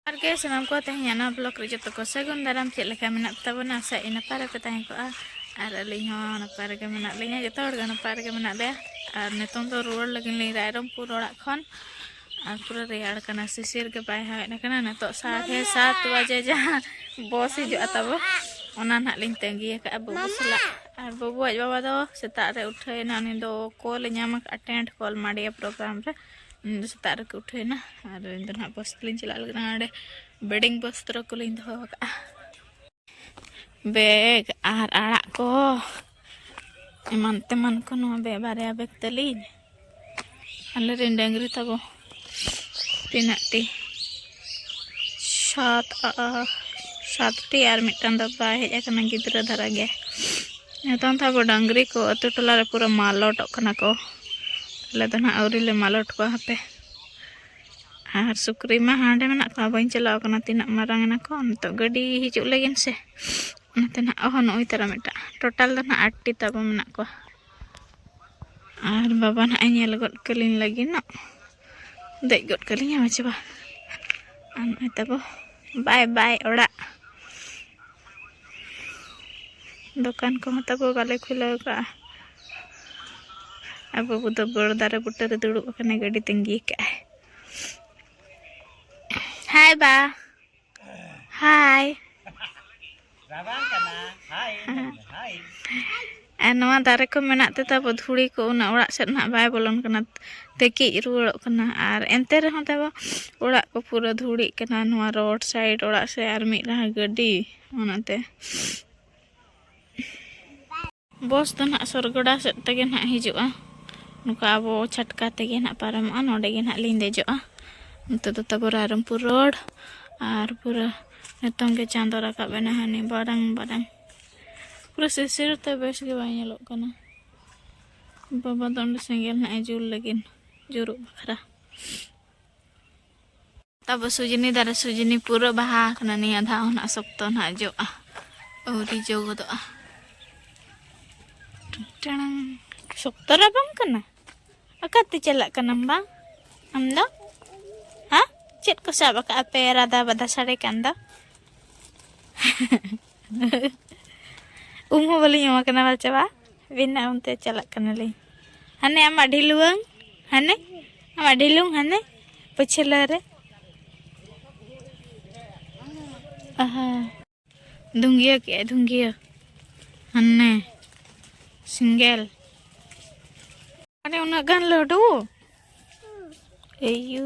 ᱟᱨ ᱜᱮ ᱥᱟᱱᱟᱢ ᱠᱚ ᱛᱮᱦᱮᱧ ᱱᱚᱣᱟ ᱵᱞᱚᱜ ᱨᱮ ᱡᱚᱛᱚ ᱠᱚ ᱥᱟᱹᱜᱩᱱ ᱫᱟᱨᱟᱢ ᱪᱮᱫ ᱞᱮᱠᱟ ᱢᱮᱱᱟᱜ ᱛᱟᱵᱚᱱᱟ ᱟᱥᱟ ᱤᱧ ᱱᱟᱯᱟᱭ ᱨᱮᱯᱮ ᱛᱟᱦᱮᱸ ᱠᱚᱜᱼᱟ ᱟᱨ ᱟᱹᱞᱤᱧ ᱦᱚᱸ ᱱᱟᱯᱟᱭ ᱨᱮᱜᱮ ᱢᱮᱱᱟᱜ ᱞᱤᱧᱟ ᱡᱚᱛᱚ ᱦᱚᱲ ᱜᱮ ᱱᱟᱯᱟᱭ ᱨᱮᱜᱮ ᱢᱮᱱᱟᱜ ᱞᱮᱭᱟ ᱟᱨ ᱱᱤᱛᱚᱝ ᱫᱚ ᱨᱩᱣᱟᱹᱲ ᱞᱟᱹᱜᱤᱫ ᱞᱤᱧ ᱨᱟᱭᱨᱚᱝᱯᱩᱨ ᱚᱲᱟᱜ ᱠᱷᱚᱱ ᱟᱨ ᱯᱩᱨᱟᱹ ᱨᱮᱭᱟᱲ ᱠᱟᱱᱟ ᱥᱤᱥᱤᱨ ᱜᱮ ᱵᱟᱭ ᱦᱟᱣᱮᱫ ᱠᱟᱱᱟ ᱱᱤᱛᱚᱜ ᱥᱟᱲᱮ ᱥᱟᱛ ᱵᱟᱡᱮ ᱡᱟᱦᱟᱸ ᱵᱚᱥ ᱦᱤᱡᱩᱜᱼᱟ ᱛᱟᱵᱚ ᱚᱱᱟ ᱱᱟᱦᱟᱜ ᱞᱤᱧ ᱛᱟᱺᱜᱤ ᱟᱠᱟᱫᱼᱟ ᱵᱟᱹᱵᱩ ᱥᱟᱞᱟᱜ ᱟᱨ ᱵᱟᱹᱵᱩᱣᱟᱡ ᱵᱟᱵᱟ ᱫᱚ ᱥᱮᱛᱟᱜ ᱨᱮ ᱩᱴᱷᱟᱹᱭᱮᱱᱟ ᱩᱱᱤ ᱫᱚ ᱠᱚᱞ ᱧᱟᱢ ᱟᱠᱟᱫᱼᱟ ᱴᱮᱱᱴ ᱠᱚᱞ ᱢᱟᱰᱤᱭᱟ ᱯᱨᱳᱜᱨᱟᱢ ᱨᱮ ᱤᱧ ᱫᱚ ᱥᱮᱛᱟᱜ ᱨᱮᱠᱚ ᱩᱴᱷᱟᱹᱣᱮᱱᱟ ᱟᱨ ᱤᱧ ᱫᱚ ᱱᱟᱦᱟᱜ ᱯᱳᱥᱴ ᱞᱤᱧ ᱪᱟᱞᱟᱜ ᱞᱟᱹᱜᱤᱫ ᱱᱚᱰᱮ ᱵᱮᱰᱤᱝ ᱵᱚᱥᱛᱨᱚ ᱠᱚᱞᱤᱧ ᱫᱚᱦᱚ ᱟᱠᱟᱫᱼᱟ ᱵᱮᱜᱽ ᱟᱨ ᱟᱲᱟᱜ ᱠᱚ ᱮᱢᱟᱱ ᱛᱮᱢᱟᱱ ᱠᱚ ᱱᱚᱣᱟ ᱵᱮᱜᱽ ᱵᱟᱨᱭᱟ ᱵᱮᱜᱽ ᱛᱟᱹᱞᱤᱧ ᱟᱞᱮᱨᱮᱱ ᱰᱟᱹᱝᱨᱤ ᱛᱟᱵᱚ ᱛᱤᱱᱟᱹᱜ ᱴᱤ ᱥᱟᱛ ᱥᱟᱛᱴᱤ ᱟᱨ ᱢᱤᱫᱴᱟᱝ ᱫᱚ ᱵᱟᱭ ᱦᱮᱡ ᱟᱠᱟᱱᱟ ᱜᱤᱫᱽᱨᱟᱹ ᱫᱷᱟᱨᱟ ᱜᱮ ᱱᱤᱛᱚᱝ ᱫᱚ ᱟᱵᱚ ᱰᱟᱝᱨᱤ ᱠᱚ ᱟᱹᱛᱩ ᱴᱚᱞᱟ ᱨᱮ ᱯᱩᱨᱟᱹ ᱢᱟᱞᱚᱴᱚᱜ ᱠᱟᱱᱟ ᱠᱚ ᱟᱞᱮ ᱫᱚ ᱱᱟᱦᱟᱜ ᱟᱹᱣᱨᱤ ᱞᱮ ᱢᱟᱞᱚᱴ ᱠᱚᱣᱟ ᱦᱟᱯᱮ ᱟᱨ ᱥᱩᱠᱨᱤ ᱢᱟ ᱦᱟᱸᱰᱮ ᱢᱮᱱᱟᱜ ᱠᱚᱣᱟ ᱵᱟᱹᱧ ᱪᱟᱞᱟᱣ ᱠᱟᱱᱟ ᱛᱤᱱᱟᱹᱜ ᱢᱟᱨᱟᱝ ᱮᱱᱟ ᱠᱚ ᱱᱤᱛᱚᱜ ᱜᱟᱹᱰᱤ ᱦᱤᱡᱩᱜ ᱞᱟᱹᱜᱤᱫ ᱥᱮ ᱚᱱᱟᱛᱮ ᱱᱟᱦᱟᱜ ᱚᱦᱚ ᱱᱚᱜᱼᱚᱭ ᱛᱟᱨᱟ ᱢᱤᱫᱴᱟᱝ ᱴᱳᱴᱟᱞ ᱫᱚ ᱱᱟᱦᱟᱜ ᱟᱴᱴᱤ ᱛᱟᱵᱚ ᱢᱮᱱᱟᱜ ᱠᱚᱣᱟ ᱟᱨ ᱵᱟᱵᱟ ᱱᱟᱦᱟᱜ ᱧᱮᱞ ᱜᱚᱫ ᱠᱟᱹᱞᱤᱧ ᱞᱟᱹᱜᱤᱫ ᱱᱟᱜ ᱫᱮᱡ ᱜᱚᱫ ᱠᱟᱹᱞᱤᱧ ᱟᱪᱪᱷᱟ ᱵᱟ ᱟᱨ ᱱᱚᱜᱼᱚᱭ ᱛᱟᱠᱚ ᱵᱟᱭ ᱵᱟᱭ ᱚᱲᱟᱜ ᱫᱚᱠᱟᱱ ᱠᱚᱦᱚᱸ ᱛᱟᱠᱚ ᱵᱟᱞᱮ ᱠᱷᱩᱞᱟᱹᱣ ᱠᱟᱜᱼᱟ ᱟᱨ ᱵᱟᱹᱵᱩ ᱫᱚ ᱵᱚᱲ ᱫᱟᱨᱮ ᱵᱩᱴᱟᱹ ᱨᱮ ᱫᱩᱲᱩᱵ ᱟᱠᱟᱱᱟᱭ ᱜᱟᱹᱰᱤ ᱛᱟᱺᱜᱤ ᱠᱟᱜᱼᱟᱭ ᱦᱟᱭ ᱵᱟ ᱦᱟᱭ ᱟᱨ ᱱᱚᱣᱟ ᱫᱟᱨᱮ ᱠᱚ ᱢᱮᱱᱟᱜ ᱛᱮ ᱛᱟᱵᱚ ᱫᱷᱩᱲᱤ ᱠᱚ ᱩᱱᱟᱹᱜ ᱚᱲᱟᱜ ᱥᱮᱫ ᱱᱟᱦᱟᱜ ᱵᱟᱭ ᱵᱚᱞᱚᱱ ᱠᱟᱱᱟ ᱛᱮᱠᱤᱡ ᱨᱩᱣᱟᱹᱲᱚᱜ ᱠᱟᱱᱟ ᱟᱨ ᱮᱱᱛᱮ ᱨᱮᱦᱚᱸ ᱛᱟᱵᱚ ᱚᱲᱟᱜ ᱠᱚ ᱯᱩᱨᱟᱹ ᱫᱷᱩᱲᱤᱜ ᱠᱟᱱᱟ ᱱᱚᱣᱟ ᱨᱳᱰ ᱥᱟᱭᱤᱰ ᱚᱲᱟᱜ ᱥᱮᱫ ᱟᱨ ᱢᱤᱫ ᱞᱟᱦᱟ ᱜᱟᱹᱰᱤ ᱚᱱᱟᱛᱮ ᱵᱚᱥ ᱫᱚ ᱱᱟᱦᱟᱜ ᱥᱚᱨᱜᱚᱰᱟ ᱥᱮᱫ ᱛᱮᱜᱮ ᱱᱟᱦᱟᱜ ᱦᱤᱡᱩᱜᱼᱟ ᱱᱚᱝᱠᱟ ᱟᱵᱚ ᱪᱷᱟᱴᱠᱟ ᱛᱮᱜᱮ ᱱᱟᱦᱟᱜ ᱯᱟᱨᱚᱢᱚᱜᱼᱟ ᱱᱚᱰᱮ ᱜᱮ ᱱᱟᱦᱟᱜ ᱞᱤᱧ ᱫᱮᱡᱚᱜᱼᱟ ᱱᱚᱛᱮ ᱫᱚ ᱛᱟᱵᱚ ᱨᱟᱭᱨᱚᱝᱯᱩᱨ ᱨᱳᱰ ᱟᱨ ᱯᱩᱨᱟᱹ ᱱᱤᱛᱚᱝ ᱜᱮ ᱪᱟᱸᱫᱚ ᱨᱟᱠᱟᱵ ᱮᱱᱟ ᱦᱟᱹᱱᱤ ᱵᱟᱨᱟᱝ ᱵᱟᱨᱟᱝ ᱯᱩᱨᱟᱹ ᱥᱤᱥᱤᱨ ᱛᱮ ᱵᱮᱥ ᱜᱮ ᱵᱟᱭ ᱧᱮᱞᱚᱜ ᱠᱟᱱᱟ ᱵᱟᱵᱟ ᱫᱚ ᱚᱸᱰᱮ ᱥᱮᱸᱜᱮᱞ ᱱᱟᱦᱟᱜ ᱮ ᱡᱩᱞ ᱞᱟᱹᱜᱤᱫ ᱡᱩᱨᱩᱜ ᱵᱟᱠᱷᱨᱟ ᱛᱟᱵᱚ ᱥᱩᱡᱤᱱᱤ ᱫᱟᱨᱮ ᱥᱩᱡᱤᱱᱤ ᱯᱩᱨᱟᱹ ᱵᱟᱦᱟ ᱟᱠᱟᱱᱟ ᱱᱤᱭᱟᱹ ᱫᱷᱟᱣ ᱦᱚᱸ ᱱᱟᱜ ᱥᱚᱠᱛᱚ ᱱᱟᱜ ᱡᱚᱜᱼᱟ ᱟᱹᱣᱨᱤ ᱡᱚ ᱜᱚᱫᱚᱜᱼᱟ ᱴᱟᱲᱟᱝ ᱥᱚᱠᱛᱚ ᱨᱟᱵᱟᱝ ᱠᱟᱱᱟ ᱚᱠᱟᱛᱮ ᱪᱟᱞᱟᱜ ᱠᱟᱱᱟᱢ ᱵᱟᱝ ᱟᱢ ᱫᱚ ᱦᱮᱸ ᱪᱮᱫ ᱠᱚ ᱥᱟᱵ ᱟᱠᱟᱫᱼᱟ ᱯᱮ ᱨᱟᱫᱟ ᱵᱟᱫᱟ ᱥᱟᱰᱮ ᱠᱟᱱ ᱫᱚ ᱩᱢ ᱦᱚᱸ ᱵᱟᱹᱞᱤᱧ ᱮᱢᱟ ᱠᱟᱱᱟ ᱵᱟᱞ ᱪᱟᱵᱟ ᱵᱮᱱᱟ ᱚᱱᱛᱮ ᱪᱟᱞᱟᱜ ᱠᱟᱱᱟᱞᱤᱧ ᱦᱟᱱᱮ ᱟᱢᱟᱜ ᱰᱷᱤᱞᱩᱣᱟᱹᱝ ᱦᱟᱱᱮ ᱟᱢᱟᱜ ᱰᱷᱤᱞᱩᱝ ᱦᱟᱱᱮ ᱯᱟᱹᱪᱷᱞᱟᱹ ᱨᱮ ᱟᱦᱟ ᱫᱩᱝᱜᱤᱭᱟᱹ ᱠᱮᱜ ᱟᱭ ᱫᱩᱝᱜᱤᱭᱟᱹ ᱦᱟᱱᱮ ᱥᱤᱝᱜᱮᱞ ᱟᱨᱮ ᱩᱱᱟᱹᱜ ᱜᱟᱱ ᱞᱟᱹᱰᱩ ᱮᱭᱩ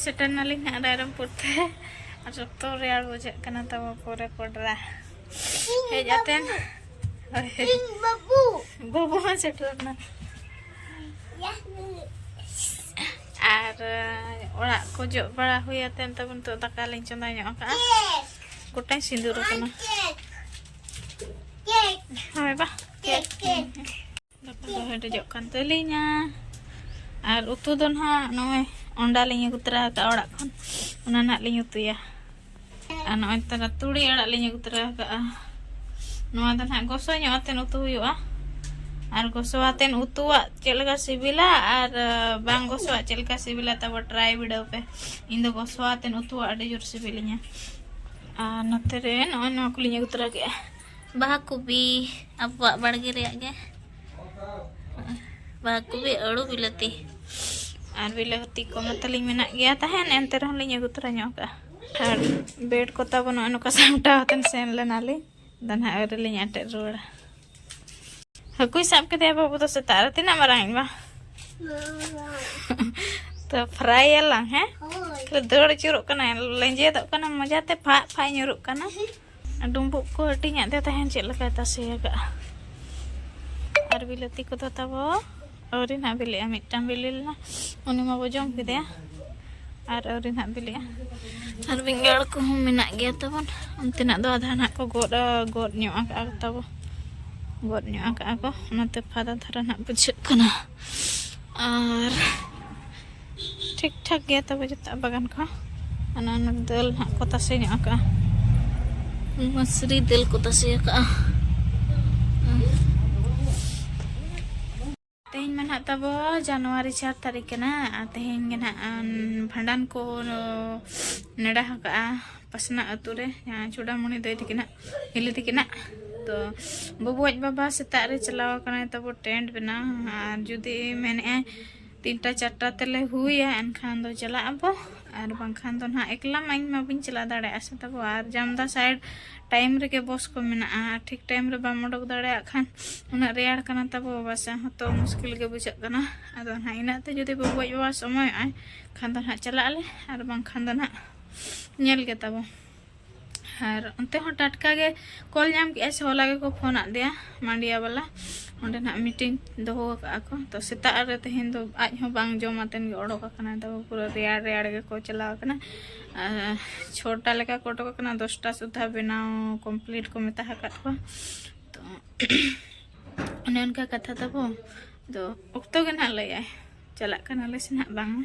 ᱥᱮᱴᱮᱨ ᱱᱟᱞᱤᱧ ᱦᱟᱸᱜ ᱨᱟᱭᱨᱚᱢᱯᱩᱨ ᱛᱮ ᱟᱨ ᱥᱚᱠᱛᱚ ᱨᱮᱭᱟᱲ ᱵᱩᱡᱷᱟᱹᱜ ᱠᱟᱱᱟ ᱛᱟᱵᱚ ᱯᱚᱨᱮ ᱯᱚᱰᱨᱟ ᱦᱮᱡ ᱟᱛᱮᱱ ᱵᱟᱹᱵᱩ ᱦᱚᱸ ᱥᱮᱴᱮᱨᱱᱟ ᱟᱨ ᱚᱲᱟᱜ ᱠᱚ ᱡᱚᱜ ᱵᱟᱲᱟ ᱦᱩᱭ ᱟᱛᱮᱱ ᱛᱟᱵᱚᱱ ᱱᱤᱛᱚᱜ ᱫᱟᱠᱟ ᱞᱤᱧ ᱪᱚᱸᱫᱟ ᱧᱚᱜ ᱟᱠᱟᱫᱼᱟ ᱜᱚᱴᱟᱧ ᱥᱤᱸᱫᱩᱨ ᱟᱠᱟᱱᱟ ᱦᱳᱭ ᱵᱟ ᱫᱟᱠᱟ ᱫᱚ ᱦᱮᱰᱮᱡᱚᱜ ᱠᱟᱱ ᱛᱟᱹᱞᱤᱧᱟ ᱟᱨ ᱩᱛᱩ ᱫᱚ ᱱᱟᱦᱟᱜ ᱱᱚᱜᱼᱚᱭ ᱚᱸᱰᱟ ᱞᱤᱧ ᱟᱹᱜᱩ ᱛᱚᱨᱟ ᱟᱠᱟᱫᱼᱟ ᱚᱲᱟᱜ ᱠᱷᱚᱱ ᱚᱱᱟ ᱱᱟᱦᱟᱜ ᱞᱤᱧ ᱩᱛᱩᱭᱟ ᱟᱨ ᱱᱚᱜᱼᱚᱭ ᱛᱟᱨᱟ ᱛᱩᱲᱤ ᱟᱲᱟᱜ ᱞᱤᱧ ᱟᱹᱜᱩ ᱛᱚᱨᱟ ᱟᱠᱟᱫᱼᱟ ᱱᱚᱣᱟ ᱫᱚ ᱱᱟᱦᱟᱜ ᱜᱚᱥᱚ ᱧᱚᱜ ᱟᱛᱮᱱ ᱩᱛᱩ ᱦᱩᱭᱩᱜᱼᱟ ᱟᱨ ᱜᱚᱥᱚ ᱟᱛᱮᱱ ᱩᱛᱩᱣᱟᱜ ᱪᱮᱫ ᱞᱮᱠᱟ ᱥᱤᱵᱤᱞᱟ ᱟᱨ ᱵᱟᱝ ᱜᱚᱥᱚᱣᱟᱜ ᱪᱮᱫ ᱞᱮᱠᱟ ᱥᱤᱵᱤᱞᱟ ᱛᱟᱵᱚ ᱴᱨᱟᱭ ᱵᱤᱰᱟᱹᱣ ᱯᱮ ᱤᱧ ᱫᱚ ᱜᱚᱥᱣᱟ ᱟᱛᱮᱫ ᱩᱛᱩᱣᱟᱜ ᱟᱹᱰᱤ ᱡᱳᱨ ᱥᱤᱵᱤᱞᱤᱧᱟ ᱟᱨ ᱱᱚᱛᱮ ᱨᱮ ᱱᱚᱜᱼᱚᱭ ᱱᱚᱣᱟ ᱠᱚᱞᱤᱧ ᱟᱹᱜᱩ ᱛᱚᱨᱟ ᱠᱮᱫᱼᱟ ᱵᱟᱦᱟ ᱠᱚᱯᱤ ᱟᱵᱚᱣᱟᱜ ᱵᱟᱲᱜᱮ ᱨᱮᱭᱟᱜ ᱜᱮ ᱵᱟᱦᱟ ᱠᱚᱯᱤ ᱟᱹᱲᱩ ᱵᱤᱞᱟᱹᱛᱤ ᱟᱨ ᱵᱤᱞᱟᱹᱛᱤ ᱠᱚ ᱢᱟᱛᱟᱞᱤᱧ ᱢᱮᱱᱟᱜ ᱜᱮᱭᱟ ᱛᱟᱦᱮᱱ ᱮᱱᱛᱮ ᱨᱮᱦᱚᱸ ᱞᱤᱧ ᱟᱹᱜᱩ ᱛᱚᱨᱟ ᱧᱚᱜ ᱠᱟᱜᱼᱟ ᱟᱨ ᱵᱮᱰ ᱠᱚ ᱛᱟᱵᱚᱱ ᱱᱚᱜᱼᱚᱭ ᱱᱚᱝᱠᱟ ᱥᱟᱢᱴᱟᱣ ᱠᱟᱛᱮᱫ ᱥᱮᱱ ᱞᱮᱱᱟᱞᱤᱧ ᱫᱚ ᱱᱟᱦᱟᱜ ᱟᱹᱣᱨᱤ ᱞᱤᱧ ᱟᱴᱮᱫ ᱨᱩᱣᱟᱹᱲᱟ ᱦᱟᱹᱠᱩᱭ ᱥᱟᱵ ᱠᱮᱫᱮᱭᱟ ᱵᱟᱹᱵᱩ ᱫᱚ ᱥᱮᱛᱟᱜ ᱨᱮ ᱛᱤᱱᱟᱹᱜ ᱢᱟᱨᱟᱝ ᱤᱧ ᱢᱟ ᱛᱚ ᱯᱷᱨᱟᱭ ᱟᱞᱟᱝ ᱦᱮᱸ ᱫᱟᱹᱲ ᱟᱹᱪᱩᱨᱚᱜ ᱠᱟᱱᱟ ᱞᱮᱸᱡᱮᱫᱚᱜ ᱠᱟᱱᱟ ᱢᱚᱡᱟᱛᱮ ᱯᱷᱟᱜ ᱯᱷᱟᱜ ᱧᱩᱨᱩᱜ ᱠᱟᱱᱟ ᱰᱩᱢᱵᱩᱜ ᱠᱚ ᱦᱟᱹᱴᱤᱧᱟᱜ ᱫᱮ ᱛᱟᱦᱮᱱ ᱪᱮᱫ ᱞᱮᱠᱟᱭ ᱛᱟᱥᱮ ᱟᱠᱟᱫᱼᱟ ᱟᱨ ᱵᱤᱞᱟᱹᱛᱤ ᱠᱚᱫᱚ ᱛᱟᱵᱚ ᱟᱹᱣᱨᱤ ᱱᱟᱦᱟᱜ ᱵᱤᱞᱤᱜᱼᱟ ᱢᱤᱫᱴᱟᱝ ᱵᱤᱞᱤ ᱞᱮᱱᱟ ᱩᱱᱤ ᱢᱟᱵᱚ ᱡᱚᱢ ᱠᱮᱫᱮᱭᱟ ᱟᱨ ᱟᱹᱣᱨᱤ ᱱᱟᱦᱟᱜ ᱵᱤᱞᱤᱜᱼᱟ ᱟᱨ ᱵᱮᱸᱜᱟᱲ ᱠᱚᱦᱚᱸ ᱢᱮᱱᱟᱜ ᱜᱮᱭᱟ ᱛᱟᱵᱚᱱ ᱚᱱᱛᱮᱱᱟᱜ ᱫᱚ ᱟᱫᱷᱟ ᱱᱟᱦᱟᱜ ᱠᱚ ᱜᱚᱫ ᱜᱚᱫ ᱧᱚᱜ ᱟᱠᱟᱜᱼᱟ ᱛᱟᱵᱚ ᱜᱚᱫ ᱧᱚᱜ ᱟᱠᱟᱜᱼᱟ ᱠᱚ ᱚᱱᱟᱛᱮ ᱯᱷᱟᱫᱟ ᱫᱷᱟᱨᱟ ᱱᱟᱦᱟᱜ ᱵᱩᱡᱷᱟᱹᱜ ᱠᱟᱱᱟ ᱟᱨ ᱴᱷᱤᱠ ᱴᱷᱟᱠ ᱜᱮᱭᱟ ᱛᱚᱵᱮ ᱡᱚᱛᱚᱣᱟᱜ ᱵᱟᱜᱟᱱ ᱠᱚ ᱚᱱᱟ ᱚᱱᱟ ᱫᱟᱹᱞ ᱦᱟᱸᱜ ᱠᱚ ᱛᱟᱥᱮ ᱧᱚᱜ ᱟᱠᱟᱜᱼᱟ ᱢᱟᱥᱨᱤ ᱫᱟᱹᱞ ᱠᱚ ᱛᱟᱥᱮ ᱟᱠᱟᱜᱼᱟ ᱛᱮᱦᱮᱧ ᱢᱟ ᱱᱟᱦᱟᱜ ᱛᱟᱵᱚ ᱡᱟᱱᱩᱣᱟᱨᱤ ᱪᱟᱨ ᱛᱟᱹᱨᱤᱠᱷ ᱠᱟᱱᱟ ᱟᱨ ᱛᱮᱦᱮᱧ ᱜᱮ ᱱᱟᱦᱟᱜ ᱵᱷᱟᱸᱰᱟᱱ ᱠᱚ ᱱᱮᱰᱟ ᱟᱠᱟᱜᱼᱟ ᱯᱟᱥᱱᱟ ᱟᱹᱛᱩ ᱨᱮ ᱡᱟᱦᱟᱸ ᱪᱩᱰᱟᱢᱩᱱᱤ ᱫᱟᱹᱭ ᱛᱤᱠᱤᱱᱟᱜ ᱦᱤᱞᱤ ᱛᱤᱠᱤᱱᱟᱜ ᱛᱚ ᱵᱟᱵᱩᱣᱟᱡ ᱵᱟᱵᱟ ᱥᱮᱛᱟᱜ ᱨᱮ ᱪᱟᱞᱟᱣ ᱟᱠᱟᱱᱟᱭ ᱛᱟᱵᱚ ᱴᱮᱱᱴ ᱵᱮᱱᱟᱣ ᱟᱨ ᱡᱩᱫᱤ ᱢᱮᱱᱮᱫᱼᱟᱭ ᱛᱤᱱᱴᱟ ᱪᱟᱨᱴᱟ ᱛᱮᱞᱮ ᱦᱩᱭᱟ ᱮᱱᱠᱷᱟᱱ ᱫᱚ ᱪᱟᱞᱟᱜ ᱟᱵᱚ ᱟᱨ ᱵᱟᱝᱠᱷᱟᱱ ᱫᱚ ᱱᱟᱦᱟᱜ ᱮᱠᱞᱟ ᱢᱟ ᱤᱧ ᱢᱟ ᱵᱟᱹᱧ ᱪᱟᱞᱟᱣ ᱫᱟᱲᱮᱭᱟᱜᱼᱟ ᱥᱮ ᱛᱟᱵᱚ ᱟᱨ ᱡᱟᱢᱫᱟ ᱥᱟᱭᱤᱰ ᱴᱟᱭᱤᱢ ᱨᱮᱜᱮ ᱵᱚᱥ ᱠᱚ ᱢᱮᱱᱟᱜᱼᱟ ᱟᱨ ᱴᱷᱤᱠ ᱴᱟᱭᱤᱢ ᱨᱮ ᱵᱟᱢ ᱚᱰᱚᱠ ᱫᱟᱲᱮᱭᱟᱜ ᱠᱷᱟᱱ ᱩᱱᱟᱹᱜ ᱨᱮᱭᱟᱲ ᱠᱟᱱᱟ ᱛᱟᱵᱚ ᱵᱟᱥᱟ ᱦᱚᱸᱛᱚ ᱢᱩᱥᱠᱤᱞ ᱜᱮ ᱵᱩᱡᱷᱟᱹᱜ ᱠᱟᱱᱟ ᱟᱫᱚ ᱱᱟᱦᱟᱜ ᱤᱱᱟᱹᱜ ᱛᱮ ᱡᱩᱫᱤ ᱵᱟᱹᱵᱩ ᱟᱡ ᱵᱟᱵᱟ ᱥᱚᱢᱚᱭᱚᱜᱼᱟᱭ ᱠᱷᱟᱱ ᱫᱚ ᱱᱟᱦᱟᱜ ᱪᱟᱞᱟᱜ ᱟᱞᱮ ᱟᱨ ᱵᱟᱝᱠᱷᱟᱱ ᱫᱚ ᱱᱟᱦᱟᱜ ᱧᱮᱞ ᱜᱮ ᱛᱟᱵᱚ ᱟᱨ ᱚᱱᱛᱮ ᱦᱚᱸ ᱴᱟᱴᱠᱟ ᱜᱮ ᱠᱚᱞ ᱧᱟᱢ ᱠᱮᱜᱼᱟ ᱥᱮ ᱦᱚᱞᱟ ᱜᱮᱠᱚ ᱯᱷᱳᱱ ᱟᱫᱮᱭᱟ ᱢᱟᱱᱰᱤᱭᱟ ᱵᱟᱞᱟ ᱚᱸᱰᱮ ᱱᱟᱜ ᱢᱤᱴᱤᱝ ᱫᱚᱦᱚ ᱟᱠᱟᱫᱼᱟ ᱠᱚ ᱛᱚ ᱥᱮᱛᱟᱜ ᱨᱮ ᱛᱮᱦᱮᱧ ᱫᱚ ᱟᱡ ᱦᱚᱸ ᱵᱟᱝ ᱡᱚᱢ ᱟᱛᱮᱱ ᱜᱮ ᱚᱰᱚᱠ ᱟᱠᱟᱱᱟ ᱛᱚ ᱯᱩᱨᱟᱹ ᱨᱮᱭᱟᱲ ᱨᱮᱭᱟᱲ ᱜᱮᱠᱚ ᱪᱟᱞᱟᱣ ᱟᱠᱟᱱᱟ ᱪᱷᱚᱴᱟ ᱞᱮᱠᱟ ᱠᱚ ᱚᱰᱚᱠ ᱟᱠᱟᱱᱟ ᱫᱚᱥᱴᱟ ᱥᱩᱫᱷᱟ ᱵᱮᱱᱟᱣ ᱠᱚᱢᱯᱞᱤᱴ ᱠᱚ ᱢᱮᱛᱟ ᱟᱠᱟᱫ ᱠᱚᱣᱟ ᱛᱚ ᱚᱱᱮ ᱚᱱᱠᱟ ᱠᱟᱛᱷᱟ ᱛᱟᱵᱚ ᱫᱚ ᱚᱠᱛᱚ ᱜᱮ ᱱᱟᱜ ᱞᱟᱹᱭᱟᱭ ᱪᱟᱞᱟᱜ ᱠᱟᱱᱟᱞᱮ ᱥᱮ ᱱᱟᱜ ᱵᱟᱝᱟ